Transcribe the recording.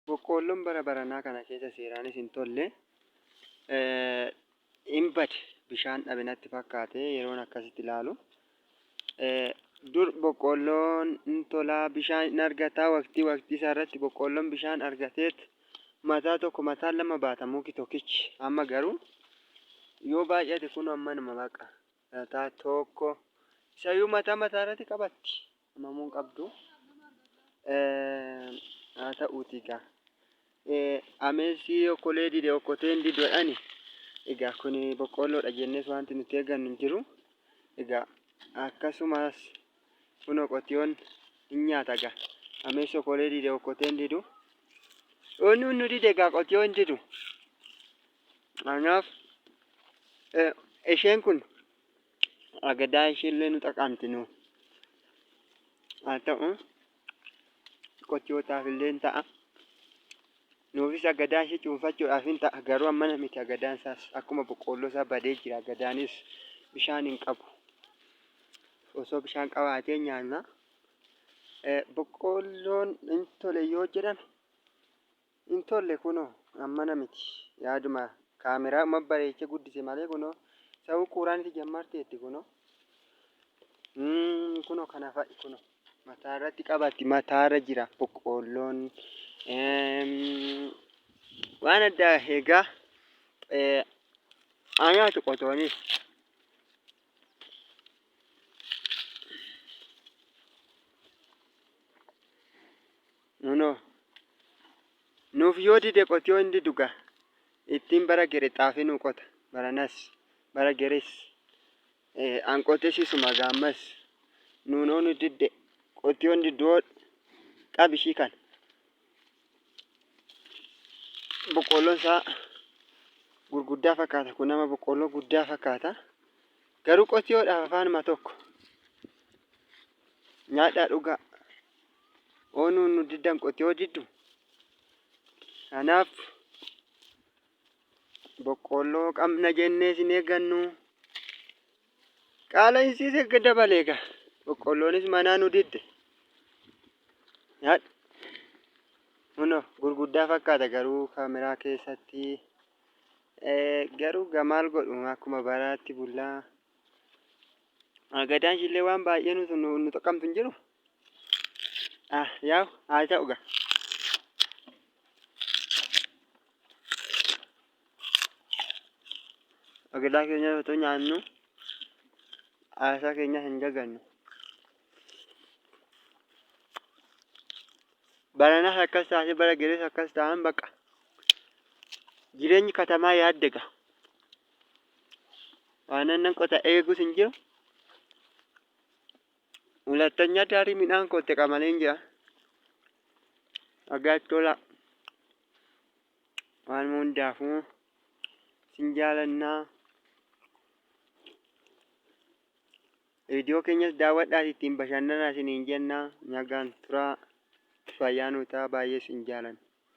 Boqqoolloon bara baranaa kana keessa seeraanis hin tolle, hin bade. Bishaan dhabe natti fakkaate yeroon akkasitti ilaalu. Dur boqqoolloon hin tolaa, bishaan hin argataa waqtii waqtii isaa irratti boqqoolloon bishaan argateet mataa tokko mataa lama baata muki tokkichi. Amma garuu yoo baay'ate kun ammanuma baqa. Mataa tokko isayyuu mataa mataa irratti qabatti hamamuun qabdu haa ta'uuti egaa ameessi okkolee dide okkoteen didodhani egaa kun boqqoolloodha jennees wanti nuti eegannu hin jiru egaa akkasumas kun qotiyoon hin nyaata egaa ameessi okkolee dide okkoteen didu inni nu dide egaa qotiyoon didu. Kanaaf eh, isheen kun agadaa isheellee nu xaqaamti nu. Haa ta'u qochootaaf illee hin ta'a. Nuufis agadaa ishee cuunfachuudhaaf hin ta'a. Garuu ammana miti agadaan isaas akkuma boqqoolloo isaa badee jira. Agadaanis bishaan hin qabu. Osoo bishaan qabaatee nyaanna. Eh, Boqqoolloon hin tole yoo jedhame Hin tolle kunoo ammana miti yaaduma kaameraadhuma bareeche guddise malee kunoo sa'uu quuraaniti jammarteetti kunoo Mm, kunoo kana fa'i kunoo mataa irratti qabatti mataa irra jira boqqoolloon Eem, waan addaa egaa eh, haa nyaatu qotoonis Nuno Nuuf yoo dide qotiyoo hin didu ga ittin bara gere xaafi nu qota baranas bara geres an qote sisuma ga ammas Nuno nu didde qotiyoo hin diddu hoo qabi ishii kan boqqoolloon isaa gurguddaa fakkaata kun nama boqqoolloo guddaa fakkaata garuu qotiyoodhaaf afaanuma tokko nyaadhaa dhugaa oonuu nu diddan qotiyoo jiddu kanaaf boqqoolloo qabna jennee isin eeggannu qaala'insiis erga dabalee egaa boqqoolloonis manaa nu didde nyaadhu kuno gurguddaa fakkaata garuu kaameraa keessatti eh, garuu gamaal godhu akkuma baraatti bullaa gadaan ishillee waan baay'ee nu nu- nu xaqqamtu hin jiru Ah, yaa'u haa ta'u gaa. Agalaa keenya otoo nyaannu haasaa keenya hin dagannu. Baranas akkas taate bara galees akkas ta'an baqa. Jireenyi katamaa yaadda gaa. Waan nan qota eegus hin jiru. Hulatanya dari midhaan kootti qamaleen jira. Agaatti tola. Waan hundaafuu sin jaalannaa. Viidiyoo keenyas daawwadhaas ittiin bashannanaa isiniin jennaa. Nagaan turaa. Fayyaa nuu ta'a baay'ee sin jaalanna.